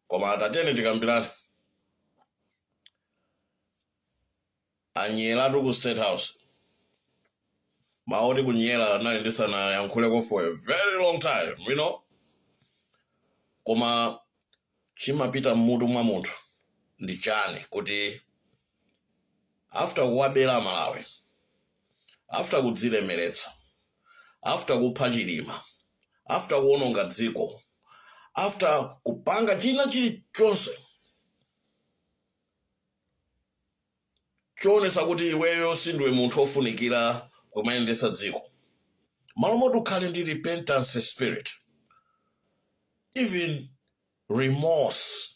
koma tatiyeni tikambirane anyeratu ku state house maoti kunyera anali ndisanayankhuleko for a very long time you know koma chimapita mmutu mwa munthu ndi chani kuti after kuwabera amalawi after kudzilemeretsa after kupha chilima after kuononga dziko after kupanga china chilichonse choonesa kuti iweyo sindiwe munthu ofunikira kumayendetsa dziko malo moti ukhale ndi repentance spirit even remorse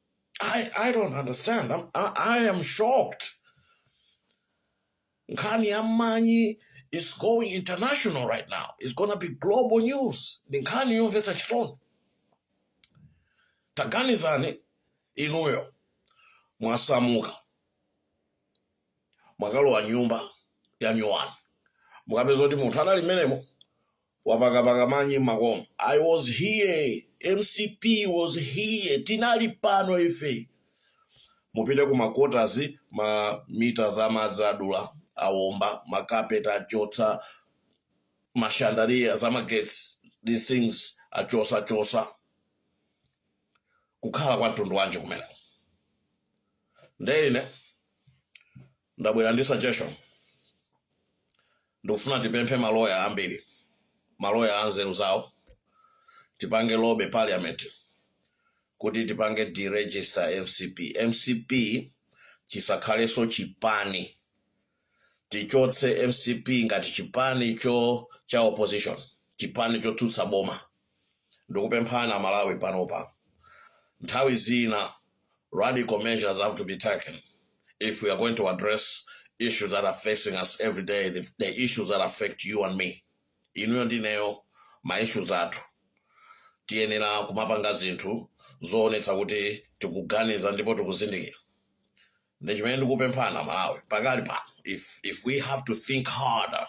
I, I don't understand. I am shocked. Nkhani ya manyi is going international right now. It's going to be global news. Ndi nkhani yomvetsa chisoni. Taganizani inuyo mwasamuka mwakalowa nyumba ya nyuwani mukapeza kuti munthu anali mmenemo Wapakapaka manyi mmakoma. I was here, mcp was here, tinali pano ife. Mupite ku ma quarters, ma mita za madzi adula, awomba, makapeti achotsa, ma chandelier za magetsi, these things achotsachotsa. Kukhala kwa mtundu wanji kumene? Nde ine. ndabwera ndi suggestion ndikufuna tipemphe maloya ambiri maloya anzeru zawo tipange lobby parliament kuti tipange deregister mcp mcp chisakhalenso chipani tichotse mcp ngati chipani cho cha opposition chipani chotsutsa boma ndikupemphani amalawi panopa nthawi zina radical measures have to be taken if we are going to address issues that are facing us every day the issues that affect you and me inuyo ndineyo ma issues athu tiyenera kumapanga zinthu zoonetsa kuti tikuganiza ndipo tikuzindikira nde chimene ndikupemphani amalawi pakali pano if we have to think harder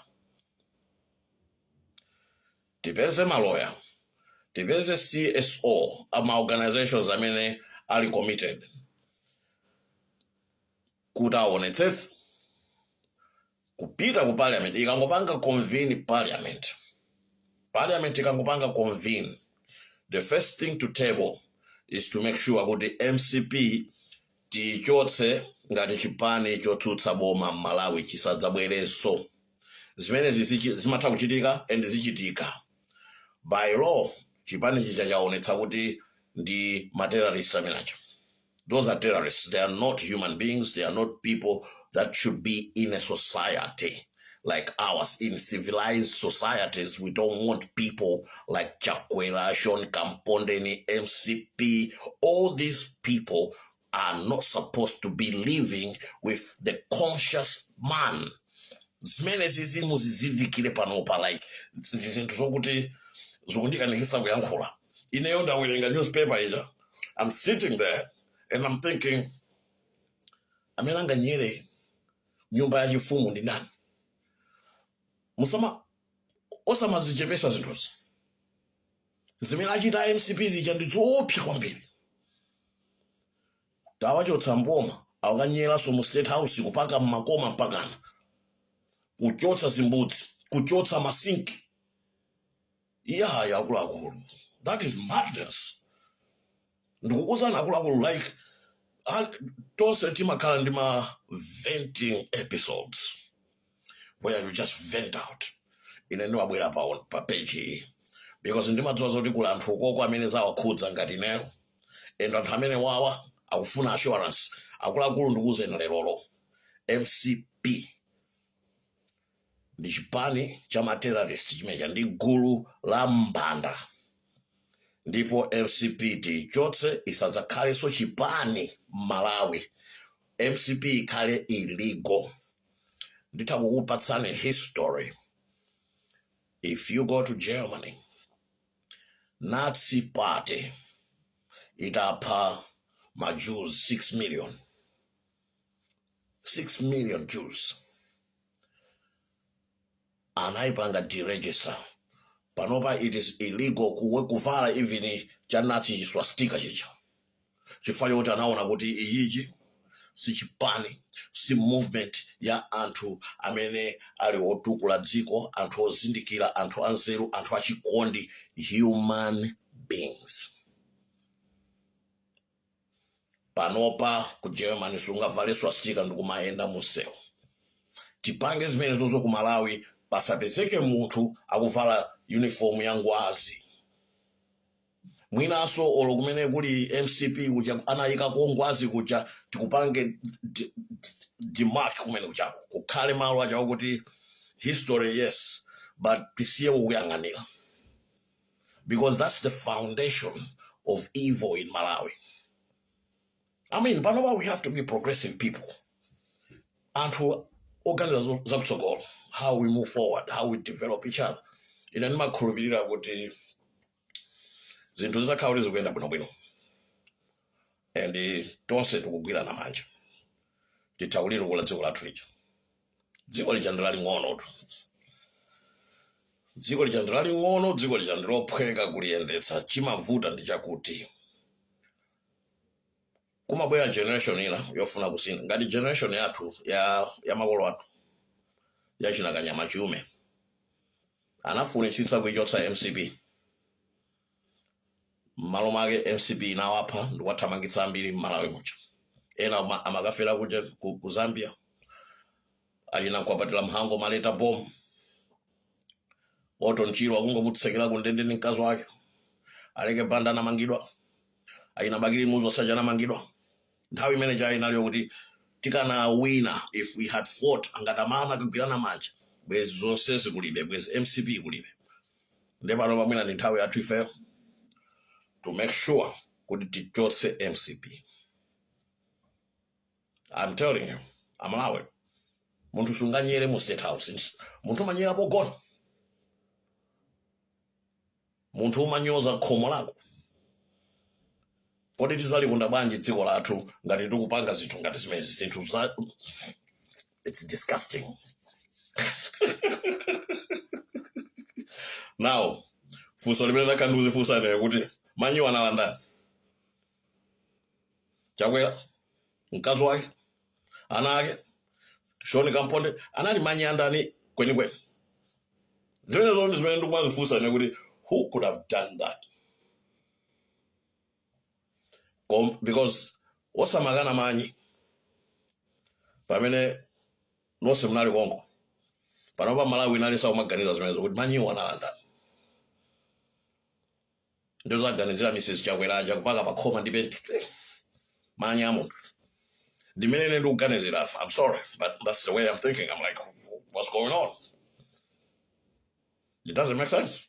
Tipeze maloya, tipeze CSO a ma organizations amene ali committed kuti awonetsetse kupita ku parliament ikangopanga convene parliament parliament ikangopanga convene the first thing to table is to make sure kuti mcp Tiichotse ngati chipani chotsutsa boma mmalawi chisadzabwerenso. Zimene zija zimatha kuchitika and zichitika. By law chipani chija chaonetsa kuti ndi ma terrorist amene chija. Those are terrorists they are not human beings they are not people that should be in a society. like ours in civilized societies. We don't want people like Chakwera, Sean Kampondeni, MCP. All these people are not supposed to be living with the conscious man. zimenezi muzizindikire panopa like ndi zinthu zokuti zikundikanikisa kuyankhula ineyo ndawerenga newspaper ija i'm sitting there and i'm thinking amene anganyele nyumba yachifumu ndi ndani musama osamazichepesa zinthuzi zimene achita a mcp zija ndi zoopsa kwambiri tawachotsa mboma akanyeranso mu state house kupaka mmakoma mpakana kuchotsa zimbudzi kuchotsa masinki iyayi akuluakulu that is madness ndikukuuzani akuluakulu like ah, tonse timakhala ndi ma venting episodes where you just vent out ine ndimabwera pa, pa page iyi because ndimadziwa zoti kuli anthu ukoko amene zawakhudza ngati ineyo and anthu amenewawa akufuna assurance akuluakulu ndikuuzeni lerolo mcp ndi chipani cha ma terrorist chimenechija ndi gulu la mbanda ndipo mcp tiichotse isadzakhalenso chipani m'malawi mcp ikhale illegal nditha kukupatsani history if you go to germany nazi party itapha ma jews 6 million 6 million Jews anaipanga deregister panopa it is illegal kuwe kuvala even cha nazi chi swastika chija chifukwa chokuti anaona kuti iyichi si chipani si movement ya anthu amene ali otukula dziko anthu ozindikira anthu anzeru anthu achikondi human beings panopa ku germany sungavale swastika ndikumayenda mumsewu tipange zimenezonso ku malawi pasapezeke munthu akuvala uniform ya ngwazi mwinanso olo kumene kuli mcp kuja anayika kongwazi kuja tikupange d- d- demark kumene kujako kukhale malo ajawo kuti history yes but tisiye kukuyang'anira because that's the foundation of evil in malawi i mean panopa we have to be progressive people anthu oganiza zo- zakutsogolo how we move forward how we develop each other ine ndimakhulupirira kuti zinthu zitakhala kuti zikuyenda bwinobwino and eh, tonse tikugwirana manja titha kulitukula dziko lathu lija dziko lija ndi laling'onotu dziko lija ndi laling'ono dziko lija ndi lophweka kuliyendetsa chimavuta ndi chakuti kumabwera generation ina yofuna kusintha ngati generation yathu ya, ya makolo athu yachina kanyama chiume anafunitsitsa kuichotsa mcp mmalo mwake mcp inawapha ndikuwathamangitsa ambiri mmalawi muja ena ama- amakafera kuja ku, ku zambia achina mkwapatira mhango maleta bom orton chirwa akungomutsekera ku ndende ndi mkazi wake aleke banda anamangidwa achina bakili muluzi aja anamangidwa nthawi imene ija inaliyo kuti tikanawina if we had fought akanatamana kugwirana manja bwezi zonsezi kulibe bwezi mcp kulibe nde pano pamwina ndi nthawi yathu ifeyo to make sure kuti tichotse mcp i'm telling you amalawi munthu sunganyere mu state house Ns- munthu umanyera pogona munthu umanyoza khomo lako Kodi tizalikonda bwanji dziko lathu ngati tikupanga zinthu ngati zimenezi zinthu za it's disgusting now funso limene ndakhala ndikuzifunsa ine kuti manyiwa anali andani chakwera mkazi wake ana ake sean kampondeni anali manyi andani kwenikweni zimene zoni zimene ndikumazifunsa ine kuti who could have done that Kom- because osamakana manyi pamene nonse munali konko panopa malawi yense akumaganiza zimenezo kuti manyiwo anali andani ndikuzaganizira mrs chakwera aja kupaka pakhoma ndi penti manyi a munthu ndiye mmene ine ndikuganizira apa i'm sorry but that's the way i'm thinking i'm like what's going on it doesn't make sense